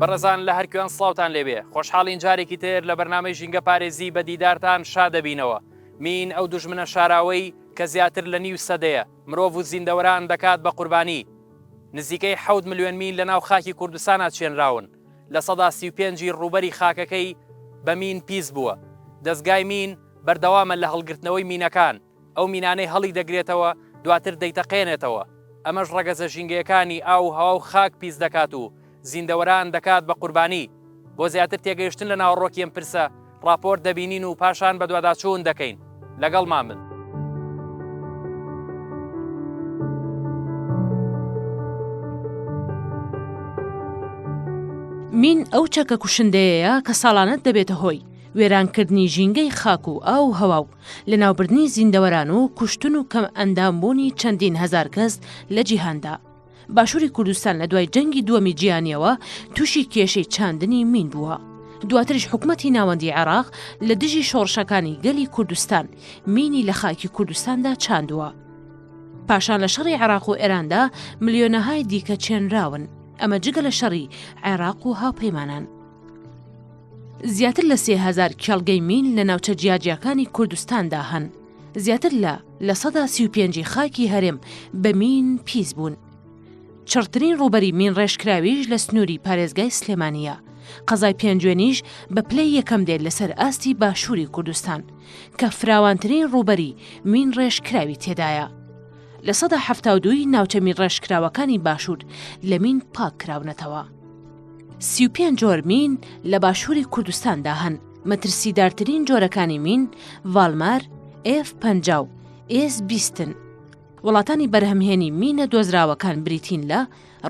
بەڕێزان لە هەرکوێن سڵاوتان لێبێ خۆشحاڵین جارێکی تر لە بەرنامەی ژینگە پارێزی بە دیدارتان شادەبینەوە مین ئەو دژمنە شاراوەی کە زیاتر لە نیو سەدەیە مرۆڤ و زیندەوەران دەکات بە قوربانی نزیکەی حەوت ملیۆن مین لە ناو خاکی کوردستانا چێنراون لە سەدا سی و پێنجی ڕووبەری خاکەکەی بە مین پیس بووە دەستگای مین بەردەوامە لە هەڵگرتنەوەی مینەکان ئەو مینانەی هەڵی دەگرێتەوە دواتر دەیتەقێنێتەوە، ئەمەش ڕەگەزە ژینگەیەکانی ئاو و هەوا و خاک پیس دەکات و زیندەوەران دەکات بە قوربانی. بۆ زیاتر تێگەیشتن لە ناوەڕۆکی ئەم پرسە، ڕاپۆرت دەبینین و پاشان بەدواداچوون دەکەین. لەگەڵمان بن. مین ئەو چەکە کوشندەیەیە کە ساڵانە دەبێتە هۆی، وێرانکردنی ژینگەی خاک و ئاو و هەوا و لەناوبردنی زیندەوەران و کوشتن و کەم ئەندام بوونی چەندین هەزار کەس لە جیهاندا. باشوری کوردستان لە دوای جەنگی دووەمی جیهانیەوە توشی کێشەی چاندنی مین بووە. دواتریش حکومەتی ناوەندی عێراق لە دژی شۆڕشەکانی گەلی کوردستان مینی لە خاکی کوردستاندا چاندووە. پاشان لە شەڕی عێراق و ئێراندا ملیۆنەهای دیکە چێنراون. ئەمە جگە لە شەڕی عێراق و هاوپەیمانان. زیاتر لە سێ هەزار کێڵگەی میل لە ناوچە جیاجیاکانی کوردستاندا هەن، زیاتر لە لە سەدا سی و پێنجی خاکی هەرێم بە مین پیس بوون. چڕترین ڕووبەری مین ڕێژکراویش لە سنووری پارێزگای سلێمانییە. قەزای پێنجوێنیش بە پلەی یەکەم دێت لەسەر ئاستی باشووری کوردستان، کە فراوانترین ڕووبەری مین ڕێژکراوی تێدایە. لە سەدا حەفتا و دووی ناوچە مین ڕێژکراوەکانی باشوور لە مین پاک کراونەتەوە. سی و پێنج جۆر مین لە باشووری کوردستاندا هەن مەترسیدارترین جۆرەکانی مین ڤالمار ئف پنج و ئێس بیستن وڵاتانی بەرهەمهێنی مینە دۆزراوەکان بریتین لە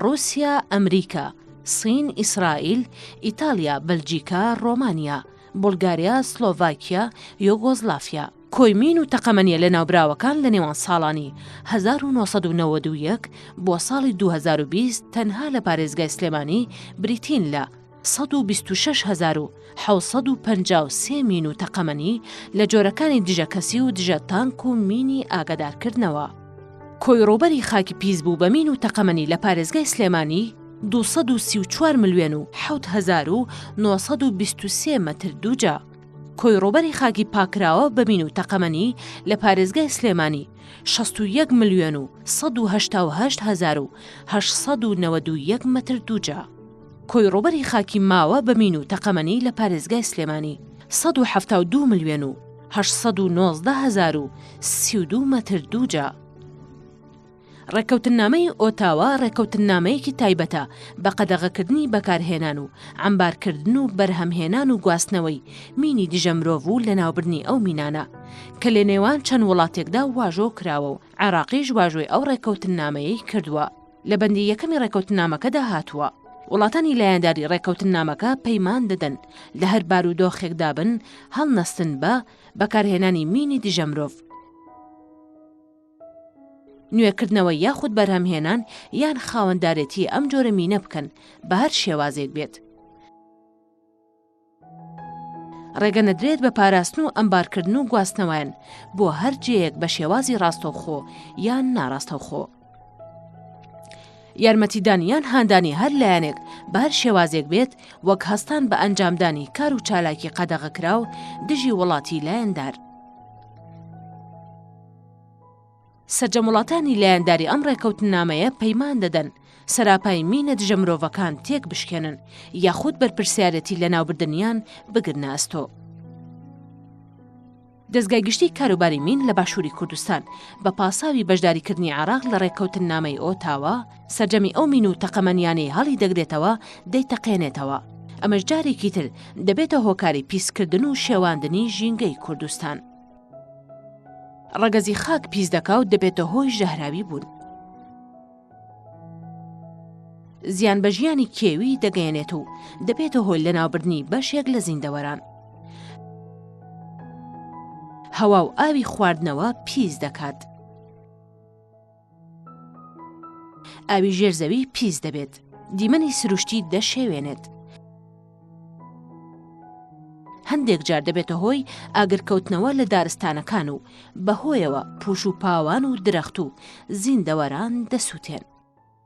رووسیا ئەمریکا سین ئیسرائیل ئیتالیا بەلجیکا ڕۆمانیا بولگاریا، سلۆڤاکیا، یۆگۆزلافیا. کۆیمین و تەقەمەنیە لەناوبراوەکان لە نێوان ساڵانی هەزار و نۆ سەد و نەوەد و یەک بۆ ساڵی دوو هەزار و بیست تەنها لە پارێزگای سلێمانی بریتین لە سەد و بیست و شەش هەزار و حەوت سەد و پەنجا و سێ مین و تەقەمەنی لە جۆرەکانی دژە کەسی و دژە تانک و مینی ئاگەدارکردنەوە. کۆی ڕووبەری خاکی پیس بوو بە مین و تەقەمەنی لە پارێزگای سلێمانی، دوو سەد و سی و چوار ملوێن و حەوت هەزار و نۆ سەد و بیست و سێ مەتر دووجا کۆی ڕووبەری خاکی پاککراوە بە مین و تەقەمەنی لە پارێزگای سلێمانی شەست و یەک ملوێن و سەد و هەشتا و هەشت هەزار و هەشت سەد و نەوەد و یەک مەتر دووجا کۆی ڕووبەری خاکی ماوە بە مین و تەقەمەنی لە پارێزگای سلێمانی سەد و حەفتا و دوو ملوێن و هەشت سەد و نۆزدە هەزار و سی و دوو مەتر دووجا ڕێککەوتننامەی ئۆتاوا ڕێککەوتننامەیەکی تایبەتە بە قەدەغەکردنی بەکارهێنان و عەمبارکردن و بەرهەمهێنان و گواستنەوەی مینی دژە مرۆڤ و لەناوبردنی ئەو مینانە کە لەنێوان چەند وڵاتێکدا واژۆ کراوە و عێراقیش واژۆی ئەو ڕێککەوتننامەیەی کردووە. لە بەندی یەکەمی ڕێککەوتننامەکەدا هاتووە، وڵاتانی لایەنداری ڕێککەوتننامەکە پەیمان دەدەن لە هەر بارودۆخێکدا بن هەڵنەستن بە بەکارهێنانی مینی دژە مرۆڤ. نوێکردنەوە یاخود بەرهەمهێنان یان خاوەندارێتی ئەم جۆرە مینە بکەن بە هەر شێوازێک بێت. ڕێگە نەدرێت بە پاراستن و ئەمبارکردن و گواستنەوەیان بۆ هەر جێیەک بە شێوازی ڕاستەوخۆ یان ناڕاستەوخۆ. یارمەتیدان یان هاندانی هەر لایەنێک بار شێوازێک بێت وەک هەستان بە ئەنجامدانی کار و چالاکی قەدەغەکراو دژی وڵاتی لایەندار. سەرجەم وڵاتانی لایەنداری ئەم ڕێکەوتننامەیە پەیمان دەدەن سەراپای مینە دژە مرۆڤەکان تێک بشکێنن یاخود بەرپرسیارەتی لەناوبردنیان بگرنە ئەستۆ. دەستگای گشتی کاروباری مین لە باشووری کوردستان بە پاساوی بەشداریکردنی عراق لە ڕێککەوتننامەی ئۆتاوا سەرجەمی ئەو مین و تەقەمەنیانەی هەڵی دەگرێتەوە دەیتەقێنێتەوە ئەمەش جارێکی تر دەبێتە هۆکاری پیسکردن و شێواندنی ژینگەی کوردستان. ڕەگەزی خاک پیس دەکا و دەبێتە هۆی ژەهراوی بوون. زیان بە ژیانی کێوی دەگەیەنێت و دەبێتە هۆی لەناوبردنی بەشێک لە زیندەوەران. هەوا و ئاوی خواردنەوە پیس دەکات. ئاوی ژێر زەوی پیس دەبێت دیمەنی سروشتی دەشێوێنێت هەندێک جار دەبێتە هۆی ئاگرکەوتنەوە لە دارستانەکان و بەهۆیەوە پوش و پاوان و درەخت و زیندەوەران دەسووتێن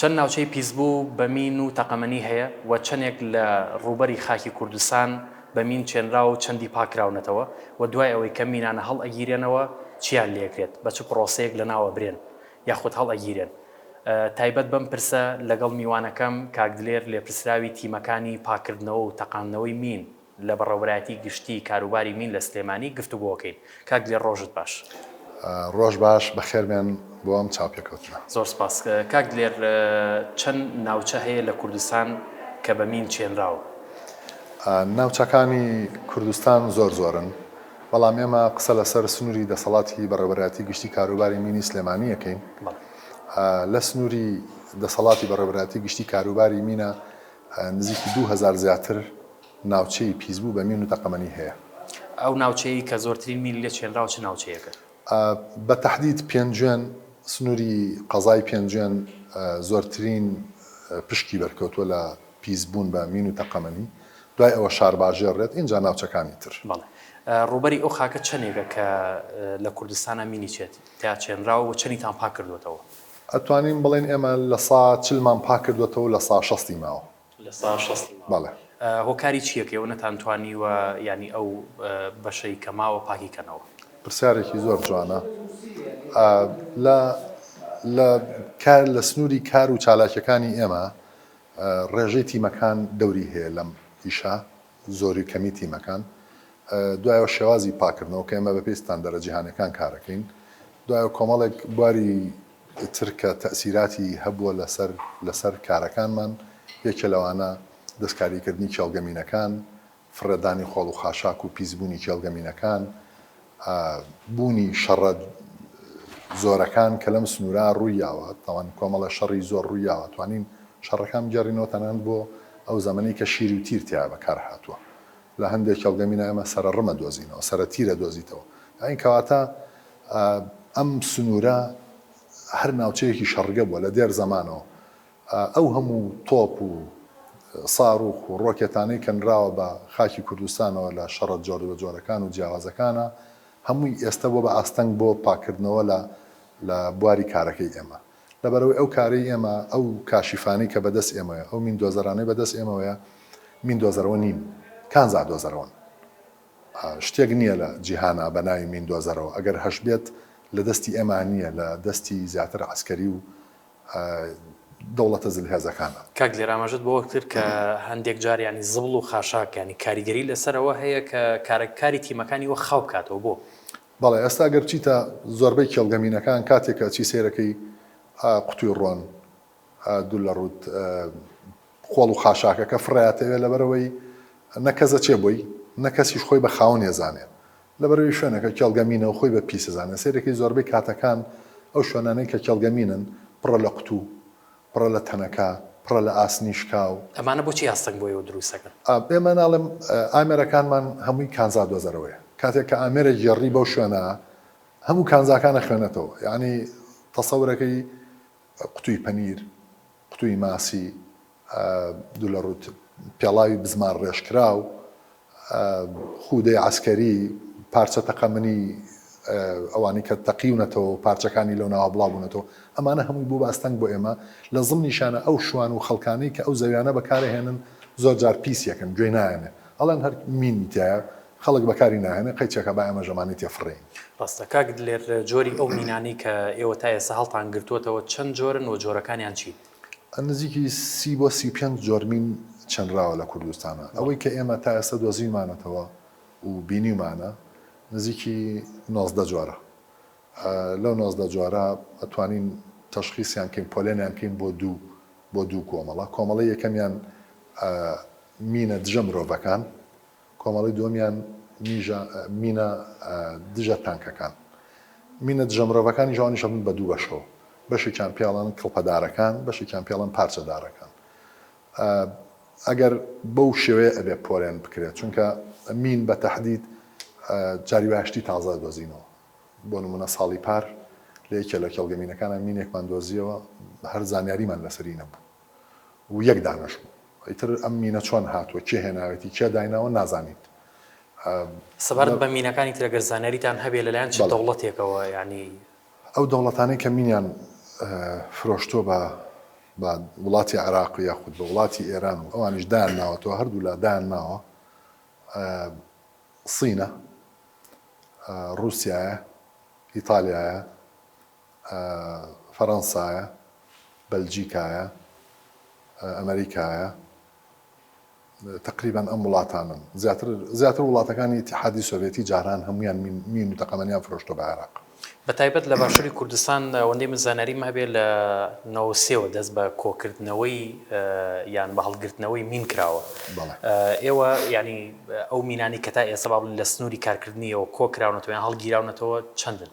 چەند ناوچەی پیسبوو بە مین و تەقەمەنی هەیە و چەندێک لە ڕووبەری خاکی کوردستان بە مین چێنراوە و چەندی پاککراونەتەوە و دوای ئەوەی کە مینانە هەڵئەگیرێنەوە چییان لێکرێت، بە چ پڕۆسەیەک لەناو ئەبرێن، یاخود هەڵئەگیرێن؟ تایبەت بەم پرسە لەگەڵ میوانەکەم کاک دلێر لێپرسراوی تیمەکانی پاککردنەوە و تەقاندنەوەی مین لە بەڕێوەبەرایەتی گشتی کاروباری مین لە سلێمانی گفتوگۆکەین. کاک دلێر ڕۆژت باش. ڕۆژ باش، بەخێربێن بۆ ئەم چاوپێکەوتنە. زۆر سپاس. کاک دلێر چەند ناوچە هەیە لە کوردستان کە بە مین چێنراوە؟ ناوچەکانی کوردستان زۆر زۆرن. بەڵام ئێمە قسە لەسەر سنوری دەسەڵاتی بەڕێوەبەرایەتی گشتی کاروباری مینی سلێمانی ئەکەین. لە سنوری دەسەڵاتی بەڕێوەبەرایەتی گشتی کاروباری مینە نزیکی دوو هەزار زیاتر ناوچەی پیسبوو بە مین و تەقەمەنی هەیە. ئەو ناوچەیەی کە زۆرترین مینی لێ چێنراوە چ ناوچەیەکە؟ بە تەحدید پێنجوێن، سنوری قەزای پێنجوێن زۆرترین پشکی بەرکەوتووە لە پیس بوون بە مین و تەقەمەنی، دوای ئەوە شارباژێڕ دێت، ئینجا ناوچەکانی تر. بەڵێ. ڕووبەری ئەو خاکە چەنێکە کە لە کوردستانا مینی چێت تیا چێنراوە و چەنیتان پاک کردووەتەوە؟ ئەتوانین بڵێین ئێمە لە سا چل مان پاک کردووەتەوە و لە سا شەستی ماوە. لە سا شەستی ماوە. بەڵێ. هۆکاری چییە کە ئێوە نەتانتوانیوە یانی ئەو بەشەی کە ماوە پاکی کەنەوە؟ پرسیارێکی زۆر جوانە. لە لە کار لە سنووری کار و چالاکییەکانی ئێمە ڕێژەی تیمەکان دەوری هەیە لەم ئیشە، زۆری و کەمی تیمەکان، دوایەوە شێوازی پاککردنەوە کە ئێمە بەپێی ستاندەرە جیهانیەکان کارەکەین، دوایەوە کۆمەڵێک بواری تر کە تەئسیراتی هەبووە لەسەر لەسەر کارەکانمان یەکێ لەوانە دەستکاریکردنی کێڵگە مینەکان، فڕێدانی خۆڵ و خاشاک و پیسبوونی کێڵگە مینەکان، بوونی شەڕە زۆرەکان کە لەم سنوورە ڕوویاوە، تاوان کۆمەڵە شەڕی زۆر ڕوویاوە، توانین شەڕەکان بگێڕینەوە تەنانەت بۆ ئەو زەمەنەی کە شیر و تیر تیا بەکار هاتووە. لە هەندێ کێڵگە مینا ئێمە سەرە ڕم ئەدۆزینەوە، سەرە تیر ئەدۆزیتەوە. یانی کەواتە ئەم سنوورە هەر ناوچەیەکی شەڕگە بووە لە دێر زەمانەوە. ئەو هەموو تۆپ و ساروخ و ڕۆکێتانەی کە نراوە بە خاکی کوردستانەوە لە شەڕە جۆربەجۆرەکان و جیاوازەکانە، هەمووی ئێستە بووە بە ئاستەنگ بۆ پاککردنەوە لە لە بواری کارەکەی ئێمە. لەبەرئەوەی ئەو کارەی ئێمە، ئەو کاشیفانەی کە بەدەست ئێمەوەیە، ئەو میندۆزەرانەی بەدەست ئێمەوەیە، میندۆزەرەوە نین، کانزا دۆزەرەوەن. شتێک نییە لە جیهانا بە ناوی میندۆزەرەوە، ئەگەر هەشبێت لە دەستی ئێمە نییە، لە دەستی زیاتر عەسکەری و دەوڵەتە زل هێزەکانە. کاک دلێر ئاماژەت بەوە کرد کە هەندێک جار یانی زبڵ و خاشاک یانی کاریگەری لەسەر ئەوە هەیە کە کارە کاری تیمەکانی وەک خاو بکاتەوە بۆ؟ بەڵێ ئێستا گەر بچیتە زۆربەی کێڵگە مینەکان کاتێک کە ئەچی سەیرەکەی قوتوی ڕۆن دوور لە ڕووت خۆڵ و خاشاکەکە فڕێ ئەتەوێ لەبەرئەوەی نە کەس ئەچێ بۆی نە کەسیش خۆی بە خاوەنی ئەزانێ لەبەرئەوەی شوێنەکە کێڵگەمینەو خۆی بە پیس ئەزانێت سەیرەکەی زۆربەی کاتەکان ئەو شوێنانەی کە کێڵگەمینن پڕە لە قوتو پڕە لە تەنەکە پڕە لە ئاسنی شکاو. ئەمانە بۆچی ئاستەنگ بۆ ئێوە دروست ئەکەن؟ ئێمە ناڵێم ئامێرەکانمان هەمووی کانزا دۆزەرەوەیە کاتێک کە ئامێرە گێڕی بەو شوێنە هەموو کانزاکان ئەخوێنێتەوە یانی تەسەورەکەی قوتوی پەنیر قوتوی ماسی دولەڕوت، پێڵاوی بزمار ڕێژکراو، خودەی عەسکەری، پارچە تەقەمەنی ئەوانەی کە تەقیونەتەوە و پارچەکانی لەو ناوە بڵاوبوونەتەوە، ئەمانە هەمووی بووبە ئەستەنگ بۆ ئێمە، لە زڵمیشانا ئەو شوان و خەڵکانەی کە ئەو زەویانە بەکارئەهێنن زۆر جار پیس یەکن، گوێی نایەنێ ئەڵێن هەر مینی تیایە، خەڵک بەکاری ناهێنێ، قەیچەکە با ئێمە ژەمانەی تێ فڕێین. ڕاستە کاک دلێر، جۆری ئەو مینانەی کە ئێوە تا ئێستا هەڵتان گرتووەتەوە چەند جۆرن و جۆرەکانیان چین؟ نزیکی سی بۆ سی و پێنج جۆر مین چنراوە لە کوردستانا، ئەوەی کە ئێمە تا ئێستا دۆزیومانەتەوە و بینیومانە نزیکی نۆزدە جۆرە، لەو نۆزدە جۆرە توانین تەشخیسیان کەین پۆلێنیان کەین بۆ دوو بۆ دوو کۆمەڵە، کۆمەڵەی یەکەمیان مینە دژە مرۆڤەکان، کۆمەڵەی دووەمیان میژە، مینە دژە تانکەکان. مینە دژە مرۆڤەکانیش ئەوانیش ئەبن بە دوو بەشەوە. بەشێکیان پێڵەن کڵپەدارەکان، بەشێکیان پێڵەن پارچەدارەکان. ئەگەر بەو شێوەیە ئەبێ پۆلێن بکرێت، چونکە مین بە تەحدید جاری وایە شتی تازە ئەدۆزینەوە. بۆ نموونە ساڵی پار لە یەکێ لە کێڵگە مینەکانا مینێکمان دۆزییەوە، هەر زانیاریمان لەسەری نەبوو و یەک دانەش بوو. ئیتر ئەم مینە چۆن هاتووە کێ هێناوێتی کێ دایناوە نازانین ئە. سەبارەت بە مینەکانی تر ئەگەر زانیاریتان هەبێ لەلایەن چ دەوڵەتێکەوە یانی. ئەو دەوڵەتانەی کە مینیان فرۆشتووە بە بە وڵاتی عێراق و یاخود بە وڵاتی ئێران و ئەوانیش دایان ناوەتەوە هەردوو لا دایان ناوە ئە صینە ئە روسیایە ئیتالیایە فەرەنسایە، بەلجیکایە، ئەمەریکایە، تەقریبەن ئەم وڵاتانەن، زیاتر زیاتر وڵاتەکانی ئیتیحادی سۆڤێتی جاران هەموویان مین و تەقەمەنیان فرۆشتووە بە عێراق. بە تایبەت لە باشووری کوردستان ئەوەندەی من زانیاریم هەبێ لە نەوەد و سێ وە دەست بە کۆکردنەوەی یان بە هەڵگرتنەوەی مین کراوە. ئێوە یانی ئەو مینانەی کە تا ئێستا با بڵێین لە سنووری کارکردنی ئێوە کۆ کراونەتەوە یان هەڵگیراونەتەوە چەندن؟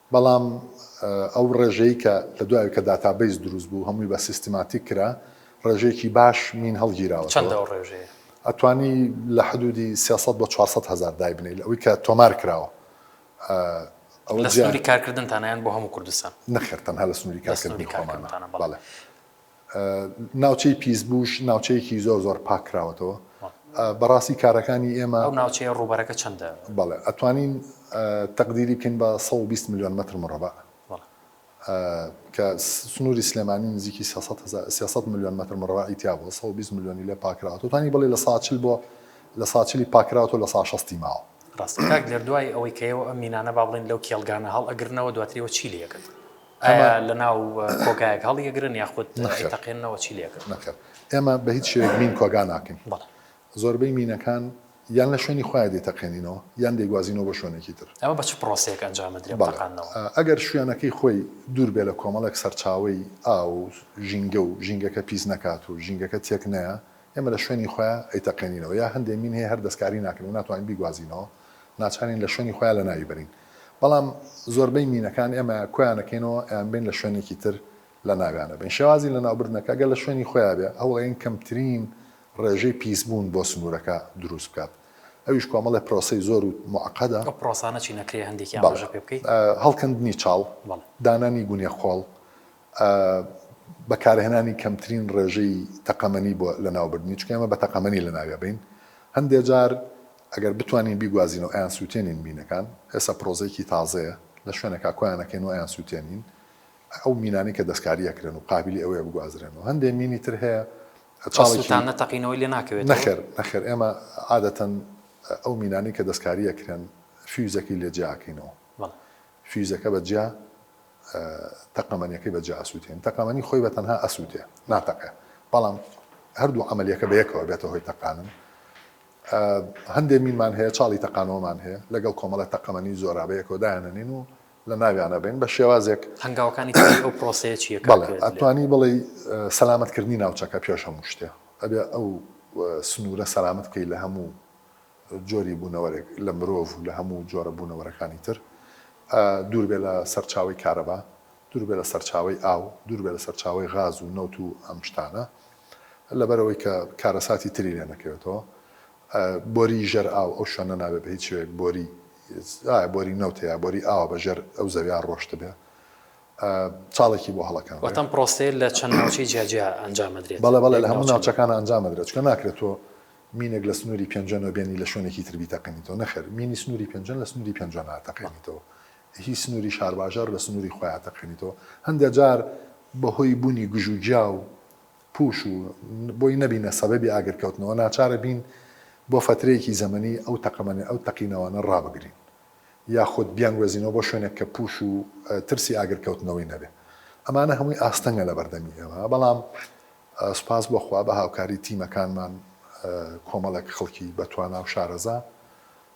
بەڵام ئەو ڕێژەی کە لە دوای کە داتابەیس دروست بوو هەمووی بە سیستماتیک کرا ڕێژەیەکی باش مین هەڵگیراوەتەوە. چەندە ئەو ڕێژەیە؟ ئەتوانی لە حدوودی سێ سەد بۆ چوار سەد هەزار دایبنێی لە ئەوەی کە تۆمار کراوە. ئەوە جیا. لە سنووری کارکردنتانە یان بۆ هەموو کوردستان؟ نەخێر تەنها لە سنووری کارکردنی خۆمانە. لە سنووری کارکردنتانە بەڵێ. ناوچەی پیسبوش ناوچەیەکی زۆر زۆر پاک کراوەتەوە بەڕاستی کارەکانی ئێمە. ئەو ناوچەیە ڕووبەرەکە چەندە؟ بەڵێ ئەتوانین تەقدیری بکەین بە سەد و بیست ملیۆن مەتر مڕەبەع کە سنووری سلێمانی نزیکی سێ سەد هەزار سێ سەد ملیۆن مەتر مڕەبەعی تیا بووە سەد و بیست ملیۆنی لێ پاکراوە توانی بڵێ لە ساچل بۆ لە ساچلی پاکراوەوە لە سا شەستی ماوە. ڕاستە کاک دێر دوای ئەوەی کە ئێوە ئەم مینانە با بڵێین لەو کێڵگانە هەڵئەگرنەوە دواتر ئێوە چی لێ ئەکەن؟ ئایا لە ناو کۆگایەک هەڵیەگرن یاخود تەقێنەوە چی لێکن نەکە ئێمە بە هیچ شێک مین کۆگا ناکەین زۆربەی مینەکان یان لە شوێنی خخوای دی تەقێنینەوە یان دەیگوازینەوە بە شوێنێکی تر ئەمە بە چ پرۆسێک ئەنجامدرێبقانەوە ئەگەر شوێنەکەی خۆی دوور بێ لە کۆمەڵێک سەرچاوی ئاو ژینگە و ژینگەکە پیس نەکات و ژینگەکە تێک نەیە ئێمە لە شوێنی خۆیان ئەیتەقێنینەوە یا هەندێ مین هەیە هەر دەستکاری ناکەن و ناتوانین بیگوازینەوە ناچارین لە شوێنی خۆیان لە ناوی بەرین بەڵام زۆربەی مینەکان ئێمە کۆیان ئەکەینەوە ئەیانبەین لە شوێنێکی تر لە ناویان ئەبەین شێوازی لەناوبردنەکە گەر لە شوێنی خۆیا بێ هەوڵ ئەیەین کەمترین ڕێژەی پیس بوون بۆ سنوورەکە دروست بکات ئەویش کۆمەڵێ پرۆسەی زۆر و موعقەدە ئەو پرۆسانە چین ئەکرێ هەندێکیان ڕێژە پێ بکەی؟ بەڵێ هەڵکەندنی چاڵ بەڵێ دانانی گونێ خۆڵ بەکارهێنانی کەمترین ڕێژەی تەقەمەنی بۆ لەناوبردنی چونکە ئێمە بە تەقەمەنی لەناوی ئەبەین هەندێ جار ئەگەر بتوانین بیگوازین و ئەیانسووتێنین مینەکان، ئێستا پرۆزەیەکی تازەیە، لە شوێنێکا کۆیانەکەین و ئەیانسووتێنین، ئەو مینانەی کە دەستکاری ئەکرێن و قابیلی ئەوەیە بگوازرێنەوە، هەندێ مینی تر هەیە چاڵێکی. ئەسووتانە تەقینەوەی لێ ناکەوێتەوە؟ نەخێر، نەخێر، ئێمە عادەتەن ئەو مینانەی کە دەستکاری ئەکرێن فیوزەکەی لێ جیا ئەکەینەوە، فیوزەکە بە جیا تەقەمەنیەکەی بە جیا ئەسووتێنین، تەقەمەنی خۆی بە تەنها ئەسووتێ، ناتەقێ، بەڵام هەردوو عەمەلیەکە بە یەکەوە ئەبێتە هۆی تەقانن، هەندێ مینمان هەیە چاڵی تەقانەوەمان هەیە لەگەڵ کۆمەڵە تەقەمەنی زۆرابە یەکەوە دایانەنین و لە ناویانە بین بە شێوازێک هەنگاوەکانی تری ئەو پرۆسەیە چیە کاک بەڵێ کوێت؟ ئەتوانی بڵێی سەلامەتکردنی ناوچەکە پێش هەموو شتێ ئەبێ ئەو سنوورە سەلامەت بکەی لە هەموو جۆری بوونەوەرێک لە مرۆڤ و لە هەموو جۆرە بوونەوەرەکانی تر دوور بێ لە سەرچاوەی کارەبا دوور بێ لە سەرچاوەی ئاو دوور بێ لە سەرچاوەی غاز و نەوت و ئەم شتانە لەبەرئەوەی کە کارەساتی تری لێ نەکەوێتەوە. بۆریی ژەر ئاو ئەو شوێنە نابێ بە هیچ شێوەیەک بۆریی ئایا بۆریی نەوتە یا بۆریی ئاوە بە ژێر ئەو زەوییە ڕۆشتبێ. چاڵێکی بۆ هەڵەکاندرێ. واتە ئەم پڕۆسەیە لە چەند ناوچەی جیاجیا ئەنجام ئەدرێت؟ بەڵێ بەڵێ لە هەموو ناوچەکانا ئەنجام ئەدرێ. چونکە ناکرێ تۆ مینێک لە سنووری پێنجۆ نەبێنی لە شوێنێکی تر بیتەقێنیتەوە. نەخێر مینی سنووری پێنجۆن لە سنووری پێنجۆ ناتەقێنیتەوە. هی سنوری شارباژێڕ لە سنوری خۆیان تەقێنیتەوە هەندێ جار بەهۆی بونی گژو گیاو پوش و بۆی نەبینە سەبەبی ئاگر کەوتنەوە ناچارە بین بۆ فەترەیەکی زەمەنی ئەو تەقەمەنی ئەو تەقینەوانە ڕابگرین یاخود بیانگوەزینەوە بۆ شوێنێک کە پوش و ترسی ئاگر کەوتنەوەی نەبێ ئەمانە هەموی ئاستەنگە لە بەردەمی ئێمە بەڵام سوپاس بۆ خوا بە هاوکاری تیمەکانمان کۆمەڵێک خەڵکی بەتوانا و شارەزا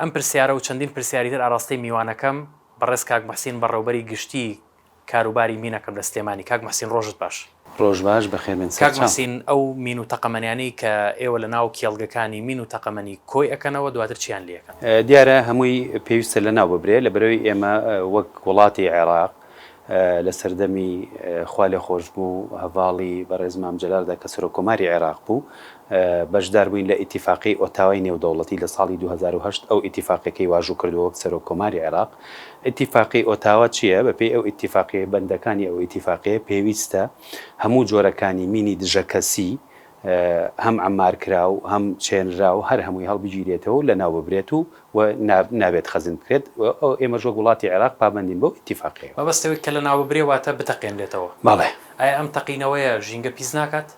ئەم پرسیارە و چەندین پرسیاری تر ئاراستەی میوانەکەم بەڕێز کاک موحسین بەڕێوبەری گشتی کاروباری مینەکەم لە سلێمانی. کاک موحسین ڕۆژت باش. ڕۆژ باش، بەخێربێن سەرچاو. کاک موحسین ئەو مین و تەقەمەنیانەی کە ئێوە لە ناو کێڵگەکانی مین و تەقەمەنی کۆی ئەکەنەوە دواتر چیان لێ ئەکەن؟ دیارە هەمووی پێویستە لەناو ببرێ لەبەرەوەی ئێمە وەک وڵاتی عێراق لە سەردەمی خوالێخۆشبوو هەڤاڵی بەڕێز مام جەلالدا کە سەرۆک کۆماری عێراق بوو بەشدار بووین لە ئیتیفاقی ئۆتاوای نێودەوڵەتی لە ساڵی دوو هەزار و هەشت ئەو ئیتیفاقیەکەی واژوو کردووە وەک سەرۆک کۆماری عێراق ئیتیفاقی ئۆتاوا چیە بە پێی ئەو ئیتیفاقیە بەندەکانی ئەو ئیتیفاقیە پێویستە هەموو جۆرەکانی مینی دژە کەسی هەم عەمار کراو هەم چێنراو هەر هەمووی هەڵبگیرێتەوە و لەناو ببرێت و و نا نابێت خەزن بکرێت و ئەو ئێمەش وەک وڵاتی عێراق پابەندین بەو ئیتیفاقەیەوە. مەبەست ئەوەی کە لەناو ببرێ واتە بتەقێنرێتەوە. بەڵێ. ئایا ئەم تەقینەوەیە ژینگە پیس ناکات؟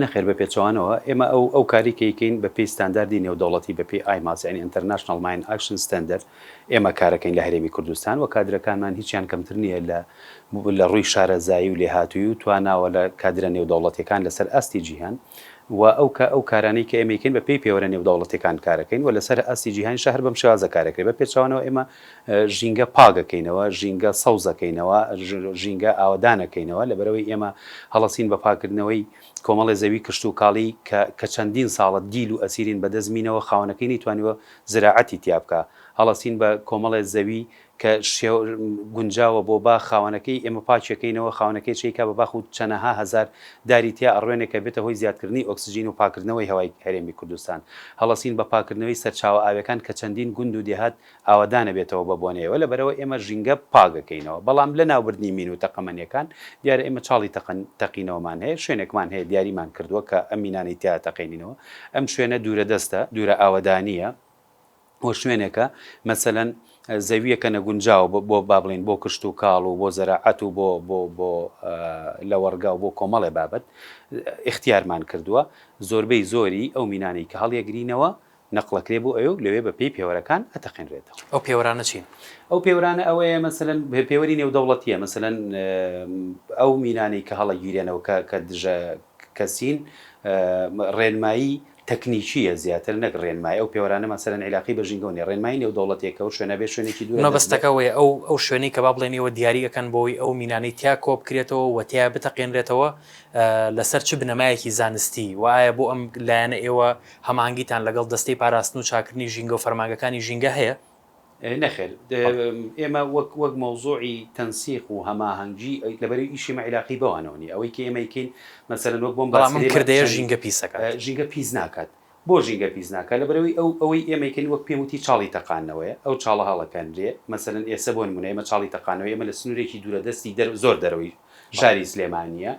نەخێر بە پێچەوانەوە ئێمە ئەو ئەو کاری کە ئیکەین بە پێی ستانداردی نێودەوڵەتی بە پێی ئایماس یانی ئینتەرناشناڵ ماین ئاکشن ستاندەرد ئێمە کارەکەین لە هەرێمی کوردستان وە کادرەکانمان هیچیان کەمتر نییە لە لە ڕووی شارەزایی و لێهاتوویی و تواناوە لە کادرە نێودەوڵەتیەکان لەسەر ئاستی جیهان و ئەو کە ئەو کارانەی کە ئێمەی کەین بە پێی پێوەرە نێودەوڵەتیەکان کارەکەین و لەسەر ئاستی جیهان شە هەر بەم شێوازە کارەکرێ بە پێچەوانەوە ئێمە ژینگە پاگەکەینەوە ژینگە سەوزەکەینەوە ژینگە ئاوەدانەکەینەوە لەبەرئەوەی ئێمە هەڵەسین بە پاکردنەوەی کۆمەڵێ زەوی کشتوکاڵی کە کە چەندین ساڵە دیل و ئەسیرین بەدەست مینەوە خاوەنەکەی نەیتوانیوە زراعەتی تیابکا هەڵەسین بە کۆمەڵێ زەوی کە شێوە گونجاوە بۆ باخ خاوەنەکەی ئێمە پاکیەکەینەوە، خاوەنەکەی چەیکا بە باخ و چەنەها هەزار داری تیا ئەڕوێنێ کە بێتە هۆی زیادکردنی ئۆکسجین و پاکردنەوەی هەوای هەرێمی کوردستان. هەڵەسین بە پاکردنەوەی سەرچاوە ئاویەکان کە چەندین گوند و دێهات ئاوەدانەبێتەوە بە بۆنەی ئەوە لەبەرئەوە ئێمە ژینگە پاکەکەینەوە بەڵام لەناوبردنی مین و تەقەمەنیەکان دیارە ئێمە چاڵی تەقەن تەقینەوەمان هەیە شوێنێکمان هەیە دیاریمان کردووە کە ئەم مینانەی تیا تەقێنینەوە ئەم شوێنە دوورە دەستە دوورە ئاوەدانیە و شوێنێکە مەسەلەن زەوییەکە نەگونجاوە بۆ بۆ با بڵێین بۆ کشت و کاڵ و بۆ زەراعەت و بۆ بۆ بۆ لەوەڕگا و بۆ کۆمەڵێ بابەت ئیختیارمان کردووە زۆربەی زۆری ئەو مینانەی کە هەڵیەگرینەوە نەقڵەکرێ بۆ ئەوێ و لەوێ بە پێی پێوەرەکان ئەتەقێنرێتەوە. ئەو پێوەرانە چین؟ ئەو پێوەرانە ئەوەیە مەسەلەن پێوەری نێودەوڵەتییە مەسەلەن ئەو مینانەی کە هەڵەگیرێنەوە کە کە دژە کەسین ڕێنمایی تەکنیکییە زیاتر نەک ڕێنمای، ئەو پێوەرانە مەسەلەن عیلاقەی بە ژینگەوە نییە، ڕێنمایی نێودەوڵەتێکە و شوێنە بێ شوێنێکی دوورە دەست بە. مەبەستەکە ئەوەیە ئەو ئەو شوێنەی کە با بڵێن ئێوە دیاری ئەکەن بۆ ئەوەی ئەو مینانەی تیا کۆ بکرێتەوە و تیا بتەقێنرێتەوە لە سەر چ بنەمایەکی زانستی و ئایا بۆ ئەم لایەنە ئێوە هەماهەنگیتان لەگەڵ دەستەی پاراستن و چاکردنی ژینگە و فەرمانگەکانی ژینگە هەیە؟ نەخێر ئێمە وەک وەک مەوزوعی تەنسیق و هەماهەنگی لەبەرئ ئیشی مە عیلاقی بەوانەوە نیە ئەوەی کە ئێمە ئەیکەین مەسەلەن وەک بۆم بەڵام ئەم کردەیە ژینگە پیس ئەکات ژینگە پیس ناکات بۆ ژینگە پیس ناکات لەبەرئەوەی ئەو ئەوەی ئێمە ئەیکەین وەک پێم وتی چاڵی تەقاندنەوەیە ئەو چاڵە هەڵەکەندرێ مەسەلەن ئێسە بۆ نمونە ئێمە چاڵی تەقاندنەوەی ئێمە لە سنورێکی دورە دەستی دەر زۆر دەرەوەی شاری سلێمانییە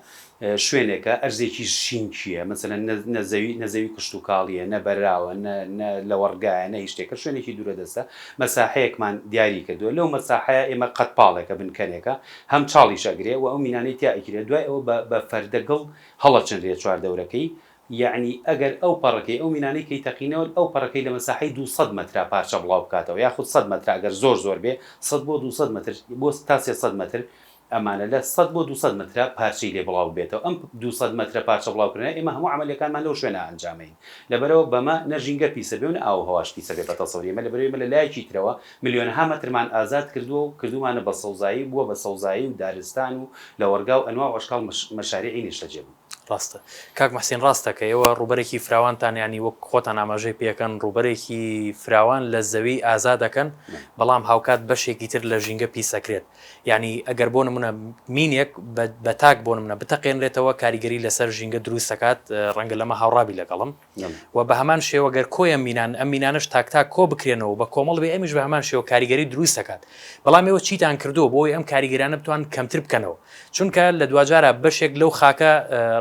شوێنێکە ئەرزێکی شینکییە مەسەلەن نە نە زەوی نە زەوی کشتوکاڵییە، نە بەراوە، نە نە لەوەڕگایە، نە هیچ شتێکە، شوێنێکی دوورەدەستە. مەساحەیەکمان دیاری کردووە، لەو مەساحەیە ئێمە قەدپاڵێکە بن کەنێکە، هەم چاڵیش ئەگرێ و ئەو مینانەی تیا ئەکیرێ، دوای ئەوە بە بە فەردە گڵ هەڵەچنرێ چوار دەورەکەی، یەعنی ئەگەر ئەو پەڕەکەی ئەو مینانەی کەی تەقینەوە ئەو پەڕەکەی لە مەساحەی دوو سەد مەترا پارچە بڵاو بکاتەوە یاخود سەد مەترا ئەگەر زۆر زۆر بێ سەد بۆ دوو سەد مەتر بۆ تا سێ سەد مەتر ئەمانە لە سەد بۆ دوو سەد مەترە پارچەی لێ بڵاو ببێتەوە ئەم دوو سەد مەترە پارچە بڵاو کرنە ئێمە هەموو عەمەلیەکانمان لەو شوێنە ئەنجامەین لەبەرئەوە بەمە نە ژینگە پیسە بێ و نە ئاو و هەواش پیسە بێ بە تەسەوری ئێمە لەبەرئەوە ئێمە لە لایەکی ترەوە ملیۆنەها مەترمان ئازاد کردووە و کردوومانە بە سەوزایی بووە بە سەوزایی و دارستان و لەوەڕگا و ئەنواع و ئەشکاڵ مەشاریعی نیشتەجێ بوو. ڕاستە کاک موحسین ڕاست دەکەی ئێوە ڕووبەرێکی فراوانتان یانی وەک خۆتان ئاماژەی پێ ئەکەن ڕووبەرێکی فراوان لە زەوی ئازاد ئەکەن بەڵام هاوکات بەشێکی تر لە ژینگە پیس ئەکرێت یانی ئەگەر بۆ نمونە مینێک بە تاک بۆ نمونە بتەقێنرێتەوە کاریگەری لەسەر ژینگە دروست دەکات ڕەنگە لەمە هاوڕابی لەگەڵم و بە هەمان شێوەگەر کۆیە مینان ئەم مینانش تاکتا کۆ بکرێنەوە بە کۆمەڵ بێ ئەمیش بە هەمان شێوە کاریگەری دروست دەکات بەڵام ئێوە چیتان کردو بۆی ئەم کاریگەرانە بتوان کەمتر بکەنەوە چونکە لە دواجارە بەشێک لەو خاکە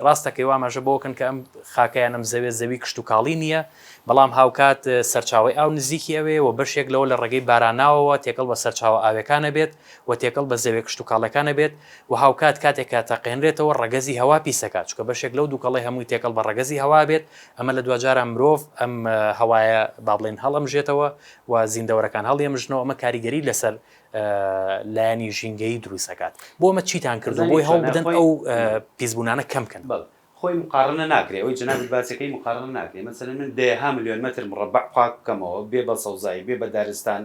ڕاستەکەی وامەژە بۆکەن کە ئەم خاکەیان ئەم زەوێ زەوی کشت و کاڵی نییە بەڵام هاوکات سەرچاوەی ئاو نزیکی ئەوێ و بەشێک لەوە لە ڕێگەی باراناوەوە تێکەڵ بە سەرچاوە ئاوێکان ئەبێت و تێکەڵ بە زەوێ کشتوکاڵێکان ئەبێت و هاوکات کاتێک کە تەقێنرێتەوە ڕەگەزی هەوا پیس ئەکات چونکە بەشێک لەو دووکەڵەی هەمووی تێکەڵ بە ڕەگەزی هەوا ئەبێت ئەمە لە دواجارە مرۆڤ ئەم هەوایە با بڵێن هەڵئەمژێتەوە و زیندەوەرەکان هەڵیەمژنەوە ئەمە کاریگەری لەسەر لایەنی ژینگەیی دروست ئەکات بۆ ئەمە چیتان کردووە بۆی هەوڵ بدەن ئەو پیسبوونانە کەم بکەن؟ خۆی مقاڕنە ناکرێ ئەوەی جەنابت باسێ کەی مقاڕنە ناکرێ مەسەلەن من دەیەها ملیۆن مەتر مڕەبەع پاک بکەمەوە بێ بە سەوزایی بێ بە دارستان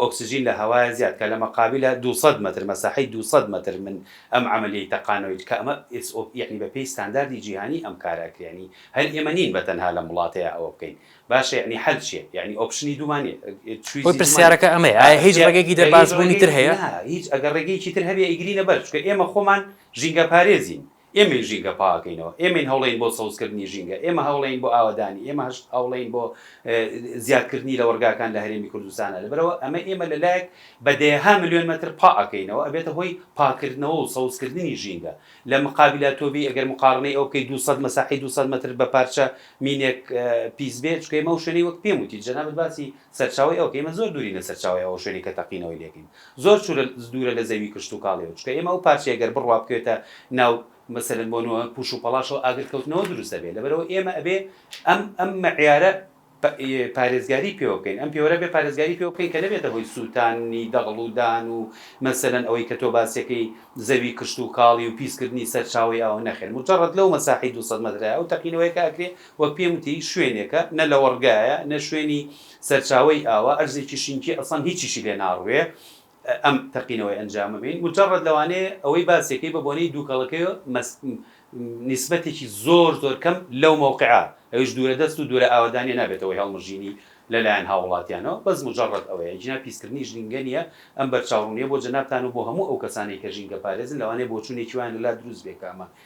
ئۆکسجین لە هەوایە زیاد کە لە مەقابیلە دوو سەد مەتر مەساحەی دوو سەد مەتر من ئەم عەمەلیەی تەقانەوەی کە ئەمە ئێس ئۆ یەعنی بە پێی ستانداردی جیهانی ئەم کارە ئەکرێ یەعنی هەر ئێمە نین بە تەنها لەم وڵاتەیا ئەوە بکەین باشە یەعنی حەل چیە یەعنی ئۆپشنی دوومان نیە چویزی دوومان نیە خۆی پرسیارەکە ئەمەیە ئایا هیچ ڕێگەیەکی دەرباز بوونی تر هەیە؟ نا هیچ ئەگەر ڕێگەیەکی تر هەبێ ئەیگرینە بەر چونکە ئێمە خۆمان ژینگە پارێزین ئێمەی ژینگە پاکەینەوە، ئێمەین هەوڵێین بۆ سەوزکردنی ژینگە، ئێمە هەوڵێین بۆ ئاوەدانی، ئێمە هەوڵێین بۆ زیادکردنی لەوەڕگاکان لە هەرێمی کوردستانا، لەبەرئەوە ئەمە ئێمە لەلایەک بە دەیەها ملیۆن مەتر پا ئەکەینەوە ئەبێتە هۆی پاکردنەوە و سەوزکردنی ژینگە، لە مقابلا تۆبی ئەگەر مقاڕنەی ئەوە بکەی دوو سەد مەساحەی دوو سەد مەتر بە پارچە مینێک پیس بێ، چونکە ئێمە ئەو شوێنەی وەک پێم وتیت جەنابت باسی سەرچاوەی ئەوکەی ئێمە زۆر دوورین لە سەرچاوەی ئەوە شوێنەی کە تەقینەوەی لێکەین زۆر چورە دوورە لە زەوی کشتوکاڵیەوە چونکە ئێمە ئەو پارچەیە گەر بڕوا بکەوێتە ناو مەسەلەن بۆ نموە پوش و پەڵاشەوە ئاگر کەوتنەوە دروست ئەبێ لەبەرئەوە ئێمە ئەبێ ئەم ئەم مەعیارە پارێزگاری پێوە بکەین ئەم پێوەرە بێ پارێزگاری پێوە بکەین کە نەبێتە هۆی سوتاننی دەغڵ و دان و مەسەلەن ئەوەی کە تۆ باسیەکەی زەوی کشتوکاڵی و پیس کردنی سەرچاوەی ئاوە نەخێر مجەڕەد لەو مەساحەی دوو سەد مەترە ئەو تەقینەوەیە کە ئەکرێ وەک پێم وتی شوێنێکە نە لەوەڕگایە نە شوێنی سەرچاوەی ئاوا ئەرزێکی شینکی ئەسڵەن هیچیشی لێ ناڕوێ ئەم تەقینەوەی ئەنجامە بین مجرد لەوانەیە ئەوەی باسێکەی بە بۆنەی دووکەڵەکەی مەس نیسبەتێکی زۆر زۆر کەم لەو مەوقعە ئەویش دوورە دەست و دوورە ئاوەدانیە نابێتە هۆی هەڵمژینی لەلایەن هاوڵاتیانەوە بەس مجرد ئەوەیە ئیجنا پیسکردنی ژینگە نیە ئەم بەرچاوڕونیە بۆ جەنابتان و بۆ هەموو ئەو کەسانەی کە ژینگە پارێزن لەوانەیە بۆچونێکی وایان لەلا دروست بێ کە ئەمە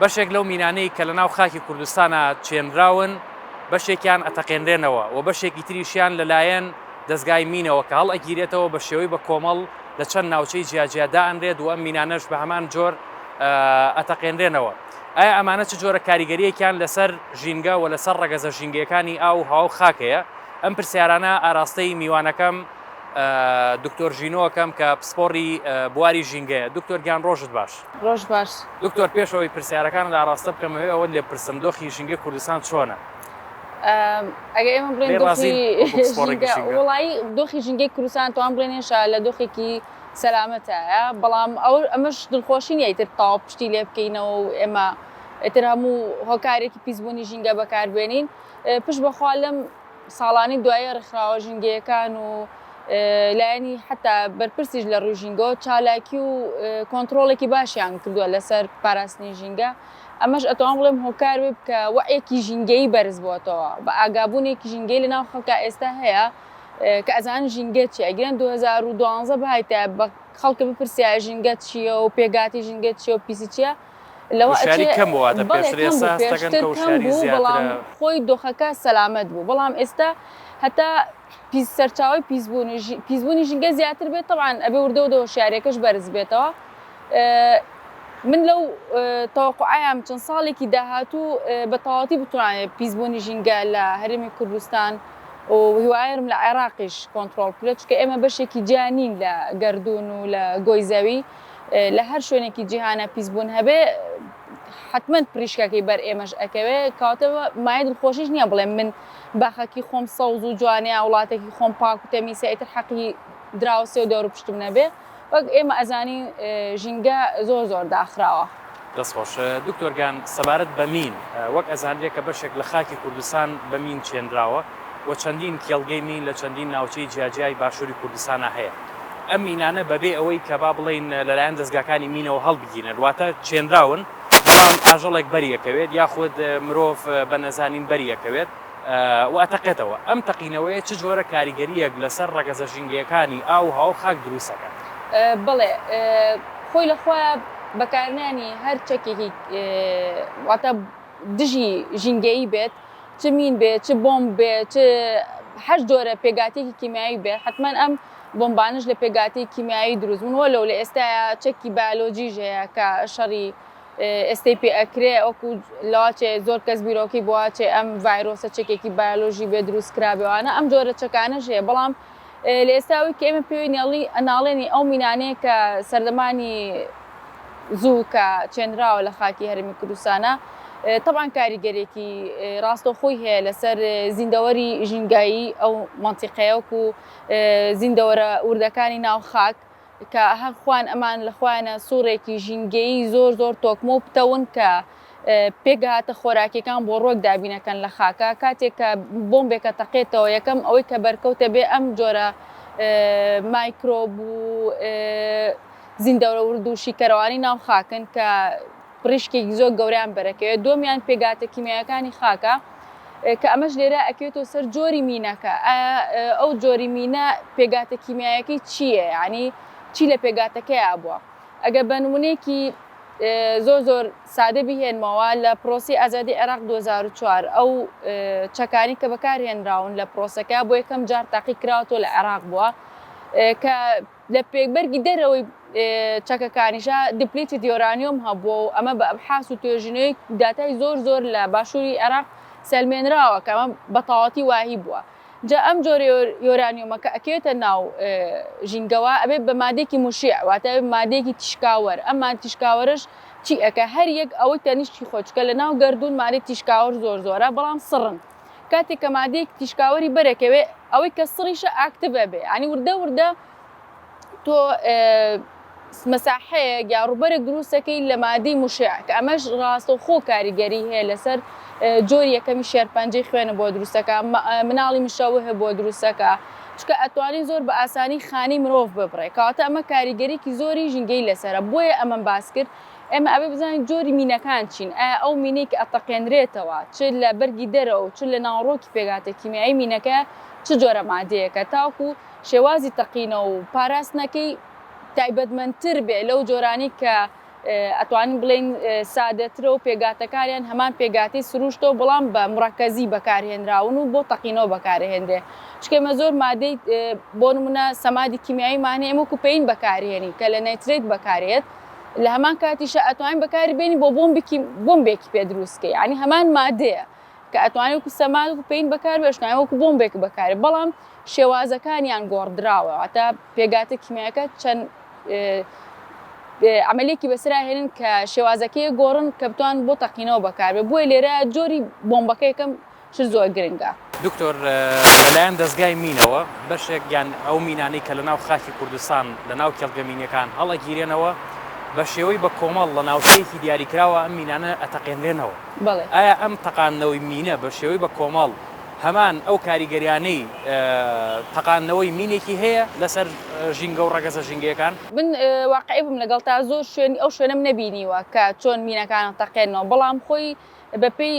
بەشێک لەو مینانەی کە لە ناو خاکی کوردستانە چێنراون بەشێکیان ئەتەقێنرێنەوە و بەشێکی تریشیان لەلایەن دەستگای مینەوە کە هەڵ ئەگیرێتەوە بە شێوەی بە کۆمەڵ لە چەند ناوچەی جیاجیا دائەنرێت و ئەم مینانەش بە هەمان جۆر ئەتەقێنرێنەوە ئایا ئەمانە چ جۆرە کاریگەریەکیان لەسەر ژینگە و لەسەر ڕەگەزە ژینگەکانی ئاو هاو خاکەیە ئەم پرسیارانە ئاراستەی میوانەکەم دکتۆر ژینۆکەم کە پسپۆڕی بواری ژینگەیە دکتۆر گیان ڕۆژت باش ڕۆژ باش دکتۆر پێش ئەوەی پرسیارەکانت ئاراستە بکەم ئەوێ ئەوەت لێ پرسم دۆخی ژینگەی کوردستان چۆنە؟ ئەگە ئێمە بڵێن وڵایی دۆخی ژینگەی کوردستان توان بڵێن هێشا لە دۆخێکی سەلامەتایە بەڵام ئەو ئەمەش دڵخۆشی نیە ئیتر تاو پشتی لێ بکەینەوە و ئێمە ئیتر هەموو هۆکارێکی پیسبوونی ژینگە بەکاربێنین پشت بەخوا لەم ساڵانی دوایی ڕیکخراوە ژینگەیەکان و لایەنی حەتا بەرپرسیش لە ڕووی ژینگەوە چالاکی و کۆنتڕۆڵێکی باشیان کردووە لەسەر پاراستنی ژینگە ئەمەش ئەتوان بڵێم هۆکار بێت کە وەعیەکی ژینگەیی بەرز بۆتەوە بە ئاگابوونێکی ژینگەی لەناو خەڵکا ئێستا هەیە کە ئەزانن ژینگە چیە گیران 2012 بهایتە بە خەڵکە بپرسیایە ژینگە چیە و پێگاتی ژینگە چیە و پیسی چیە لەوە ئەچێ بەڵێ کەم بوو پێشتر کەم بوو بەڵام خۆی دۆخەکە سەلامەت بوو بەڵام ئێستا هەتا پیس سەرچاوەی پیسبوونی پیسبوونی ژینگە زیاتر بێت تەبعان ئەبێ وردە وردە هۆشیارەکەش بەرز بێتەوە من لەو تەوەقعیان چەند ساڵێکی داهاتوو بە تەواتی بتوانێت پیسبوونی ژینگە لە هەرێمی کوردستان و هیوایرم لە عێراقیش کۆنتترۆل کرێت چکە ئێمە بەشێکی جیانین لە گردردون و لە گۆی زەوی لە هەر شوێنێکی جیهانا پیسبوون هەبێ حتمما پریشکەکەی بەر ئێمەش ئەکەوێ کاوتە مایە دڵخۆشیش نییە بڵێ من باخەکی خۆم سەوز و جوانەیە وڵاتێکی خۆم پاک و تەمیسە ئیتر حەقی دراوسێ و دەور پشتم نەبێ وەک ئێمە ئەزانی ژینگە زۆر زۆر داخراوە. دەست خۆش دکتۆر گان سەبارەت بە مین وەک ئەزانرێ کە بەشێک لە خاکی کوردستان بە مین چێنراوە و چەندین کێڵگەی مین لە چەندین ناوچەی جیاجیای باشوری کوردستانا هەیە ئەم مینانە بەبێ ئەوەی کە با بڵێین لەلایەن دەزگاکانی مینەوە هەڵبگیرێن واتە چێنراون بەڵام ئاژەڵێک بەری ئەکەوێت یاخود مرۆڤ بە نەزانین بەری ئەکەوێت و ئەتەقێتەوە، ئەم تەقینەوەیە چ جۆرە کاریگەرییەک لەسەر ڕەگەزە ژینگەیەکانی ئاو و هەوا و خاک دروست ئەکات؟ بەڵێ، خۆی لە خۆیا بەکارنانی هەر چەکێکی واتە دژی ژینگەیی بێت، چ مین بێت، چ بۆمب بێت، چ هەر جۆرە پێکاتێکی کیمیاوی بێت، حەتمەن ئەم بۆمبانەش لە پێکاتی کیمیاوی دروست بوون، وەلەو لە ئێستایا چەکی بایۆلۆجیش هەیە کە شەڕی. ئێستەی پێ ئەکرێ وەکو لەوا چێ زۆر کەس بیرۆکەی بۆوا چێ ئەم ڤایرۆسە چەکێکی بایۆلۆژی بێ دروست کرابێ وانە ئەم جۆرە چەکانەش هەیە بەڵام لە ئێستا ئەوەی کە ئێمە پێوەی نێڵی ناڵێنی ئەو مینانەیە کە سەردەمانی زوو کە چێنراوە لە خاکی هەرێمی کوردستانە تەبان کاریگەرێکی ڕاستەوخۆی هەیە لەسەر زیندەوەری ژینگایی ئەو مەنتیقەیەک و زیندەوەرە وردەکانی ناو خاک کە هەر خوان ئەمان لە خوانە سوڕێکی ژینگەیی زۆر زۆر تۆکمە و پتەون کە پێکهاتە خۆراکیەکان بۆ ڕوەک دابینەکەن لە خاکە کاتێک کە بۆمبێکە تەقێتەوە یەکەم ئەوەی کە بەرکەوتە بێ ئەم جۆرە مایکرۆب و زیندەوەرد و شیکەرەوانی ناو خاکن کە پڕیشکێکی زۆر گەورەیان بەرەکەوێت، دووەمیان پێکهاتە کیمیاییەکانی خاکە کە ئەمەش لێرە ئەکەوێتەوە سەر جۆری مینەکە، ئایا ئەو جۆری مینە پێکهاتە کیمیاییەکەی چییە یانی چی لە پێکهاتەکەیا بووە، ئەگەر بە نموونەیەکی زۆر زۆر سادە بیهێنمەوە لە پرۆسەی ئازادی عێراق دوو هەزار و چوار ئەو چەکانەی کە بەکارهێنراون لە پرۆسەکە بۆ یەکەم جار تاقی کراوەتەوە لە عێراق بووە کە لە پێکبەرگی دەرەوەی چەکەکانیشا دیپلیتد یۆرانیۆم هەبووە و ئەمە بە ئەبحاس و توێژینەوەی داتای زۆر زۆر لە باشووری عێراق سەلمێنراوە کە ئەمە بە تەواوەتی وایی بووە جا ئەم جۆرە یۆرانیۆمە کە ئەکەوێتە ناو ژینگەوە ئەبێت بە مادەیەکی موشیع واتە مادەیەکی تیشکاوەر ئەم مادە تیشکاوەرەش چی ئەکا هەر یەک ئەوەی تەنیشتی خۆی چونکە لە ناو گەردوون مادەی تیشکاوەر زۆر زۆرە بەڵام سڕن کاتێک کە مادەیەک تیشکاوەری بەرەک ئەوێ ئەوەی کە سڕیشە ئاکتڤ ئەبێ ینی وردە وردە تۆ مەساحەیە یا ڕوبەرێک دروستەکەی لە مادەی مشع کە ئەمەش ڕاستە خۆ کاریگەری هەیە لەسەر جۆری یەکەمی شێرپەنجەی خوێنە بۆ دروستەکە مناڵی مشەوه بۆ دروستەکە چکە ئەتوانین زۆر بە ئاسانی خانی مرۆڤ ببڕێ کاتە ئەمە کاریگەریکی زۆری ژینگەی لەسرە بۆیە ئەمەم باس کرد ئێمە ئەبێ بزانین جۆری مینەکان چین، ئایا ئەو مینەی کە ئەتەقێنرێتەوە چ لە بەرگی دەرەوە و چ لە ناوەڕۆکی پێکهاتە کیمیایی مینەکە چ جۆرە مادەیەکە تاوەکو شێوازی تەقینەوە و پاراستنەکەی تایبەتمەندتر بێ لەو جۆرانەی کە ئەتوانین بڵێین سادەترە و پێکگاتەکانیان هەمان پێکگاتەی سروشتە و بەڵام بە مڕەکەزی بەکارهێنراون و بۆ تەقینەوە بەکارهێنرێ چونکە ئێمە زۆر مادەی بۆ نمونە سەمادی کیمیاییمان هەیە ئێمە وەکو پەین بەکارهێنین کە لە نەیترەیت بەکارێت لە هەمان کاتیشا ئەتوانین بەکاری بێنین بۆ بۆمبێکی بۆمبێکی پێ دروست کە یعنی هەمان مادەیە کە ئەتوانێت وەکو سەماد و پێین بەکار بێشتوانین وەکو بۆمبێک بەکارێ بەڵام شێوازەکانیان گۆڕدراوە واتە پێگاتە کیمیاکە چەند عملێکی بەسرا هێنن کە شێوازەکەی گۆڕن کە بتوان بۆ تەقینەوە بەکارێ بۆیە لێرە جۆری بۆمبەکە یەکەم چ زۆر گرنگە. دکتۆر لەلایەن دەزگای مینەوە بەشێک یان ئەو مینانەی کە لەناو خاکی کوردستان لەناو کێڵگە مینیەکان هەڵئەگیرێنەوە بە شێوەی بە کۆمەڵ لە ناوچەیەکی دیاریکراوە ئەم مینانە ئەتەقێنرێنەوە بەڵێ. ئایا ئەم تەقاندنەوەی مینە بە شێوەی بە کۆمەڵ هەمان ئەو کاریگەریانەی تەقاندنەوەی مینێکی هەیە لەسەر ژینگە و ڕەگەزە ژینگەیەکان؟ من واقعی بم لەگەڵتا زۆر شوێن ئەو شوێنەم نەبینیوە کە چۆن مینەکان ئەتەقێنەوە بەڵام خۆی بەپێی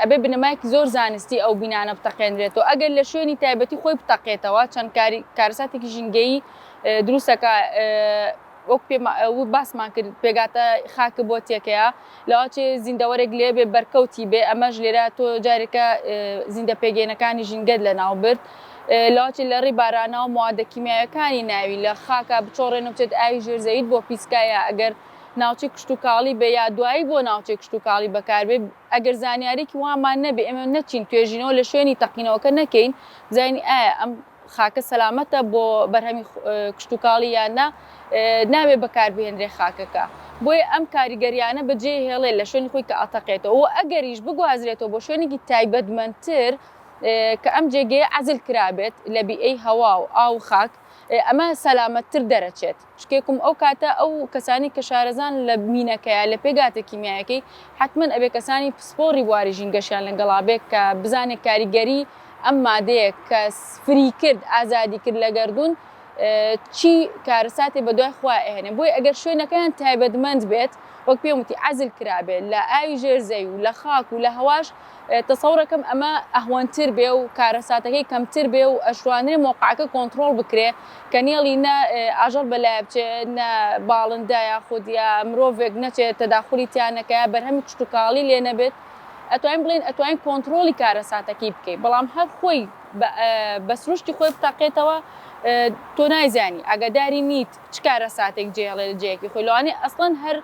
ئەبێ بنەمایەکی زۆر زانستی ئەو بینانە بتەقێنرێتەوە ئەگەر لە شوێنی تایبەتی خۆی بتەقێتەوە چەند کارەساتێکی ژینگەیی دروستەکە وەک پێ باسمان کرد پێگاتە خاکە بۆ تێکەیە لەواچێ زیندەوەرێک لێ بێ بەرکەوتی بێ ئەمەش لێرە تۆ جارێکە زیندە پێگەێنەکانی ژینگەت لە ناو برد لەواچێ لە ڕێ بارانەوە موادە کیمیاەکانی ناوی لە خاکە بچۆڕێنە بچێت ئاوی ژێرزەویت بۆ پیسکایە ئەگەر ناوچەی کشتوکاڵی بێ یا دوایی بۆ ناوچەی کشتوکاڵی بەکاربێ ئەگەر زانیاریەکی وامان نەبێ ئێمە نەچین توێژینەوە لە شوێنی تەقینەوەکە نەکەین بزانین ئایا ئەم خاکە سەلامەتە بۆ بەرهەمی کشتوکاڵی یان نا ناوێ بەکاربهێنرێ خاکەکە بۆیە ئەم کاریگەریانە بەجێ هێڵێ لە شوێنی خۆی کە ئەتەقێتەوە و ئەگەریش بگوازرێتەوە بۆ شوێنێکی تایبەتمەندتر کە ئەم جێگەیە عەزل کرابێت لە بیئەی هەوا و ئاو و خاک ئەمە سەلامەتتر دەرەچێت. شکێکم ئەو کاتە ئەو کەسانی کە شارەزان لە مینەکەیا لە پێگاتە کیمیایەکەی حەتمەن ئەبێ کەسانی پسپۆڕی بواری ژینگەشیان لە گەڵا بێ کە بزانێ کاریگەری ئەم مادەیە کە فری کرد ئازادی کرد لە گەردوون چی کارەساتێ بە دوای خۆیا ئەهێنێ بۆیە ئەگەر شوێنەکەیان تایبەتمەند بێت وەک پێم وتی عەزل کرابێ لە ئاوی ژێر زەوی و لە خاک و لە هەواش تەسەوڕەکەم ئەمە ئەهوەنتر بێ و کارەساتەکەی کەمتر بێ و ئەشتوانرێ مەوقەعەکە کۆنتڕۆڵ بکرێ کە نێڵی نە ئاژەڵ بە لایە بچێ نە باڵندە یاخود یا مرۆڤێک نەچێ تەداخولی تیا نەکا یا بەرهەمی کشتوکاڵی لێ نەبێت ئەتوانین بڵێین ئەتوانین کۆنتڕۆڵی کارەساتەکەی بکەی بەڵام هەر خۆی بە بە سروشتی خۆی بتەقێتەوە تۆ نایزانی ئاگاداری نیت چ کارەساتێک جێ هێڵێ لە جێیەکی خۆی لەوانەیە ئەسڵەن هەر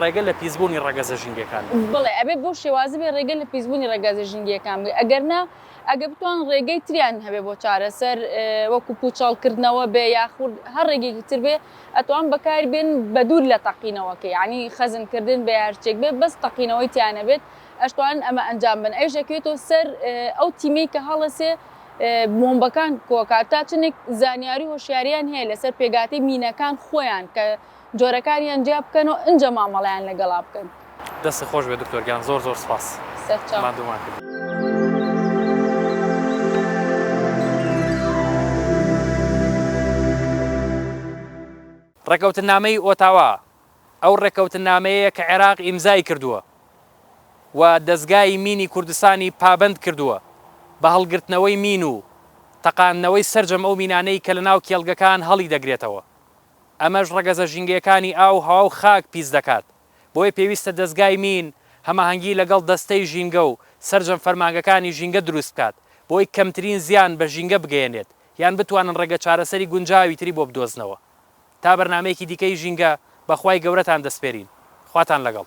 ڕێگە لە پیسبوونی ڕەگەزە ژینگەکان بگرن. بەڵێ ئەبێت بەو شێوازە بێت ڕێگە لە پیسبوونی ڕەگەزە ژینگەکان بگرن ئەگەر نا ئەگەر بتوانن ڕێگەی تریان هەبێت بۆ چارەسەر وەکو پوچەڵ کردنەوە بێت یاخود هەر ڕێگەیەکی تر بێت ئەتوان بەکاری بێن بە دوور لە تەقینەوەکە یانی خەزن کردن بێت هەر شتێک بێت بەس تەقینەوەی تیا نەبێت ئەشتوانن ئەمە ئەنجام بن ئەویش ئەکەوێتەوە سەر ئەو تیمەی کە هەڵەسێ بۆمبەکان کۆکات تا چنێک زانیاری هۆشیاریان هەیە لەسەر پێگاتەی مینەکان خۆیان کە جۆرەکانیان جیا بکەن و ئنجا مامەڵەیان لەگەڵا بکەن. دەستت خۆش بێت دکتۆر گیان زۆر زۆر سپاس ماندوومان کردی. ڕێککەوتننامەی ئۆتاوا ئەو ڕێککەوتننامەیەیە کە عێراق ئیمزای کردووە و دەزگای مینی کوردستانی پابەند کردووە بە هەڵگرتنەوەی مین و تەقاندنەوەی سەرجەم ئەو مینانەی کە لەناو کێڵگەکان هەڵیدەگرێتەوە. ئەمەش ڕەگەزە ژینگەیەکانی ئاو و هەوا و خاک پیس دەکات، بۆیە پێویستە دەزگای مین هەماهەنگی لەگەڵ دەستەی ژینگە و سەرجەم فەرمانگەکانی ژینگە دروست بکات بۆی کەمترین زیان بە ژینگە بگەیەنێت یان بتوانن ڕێگە چارەسەری گونجاوی تری بۆ بدۆزنەوە تا بەرنامەیەکی دیکەی ژینگە بە خوای گەورەتان دەسپێرین خواتان لەگەڵ.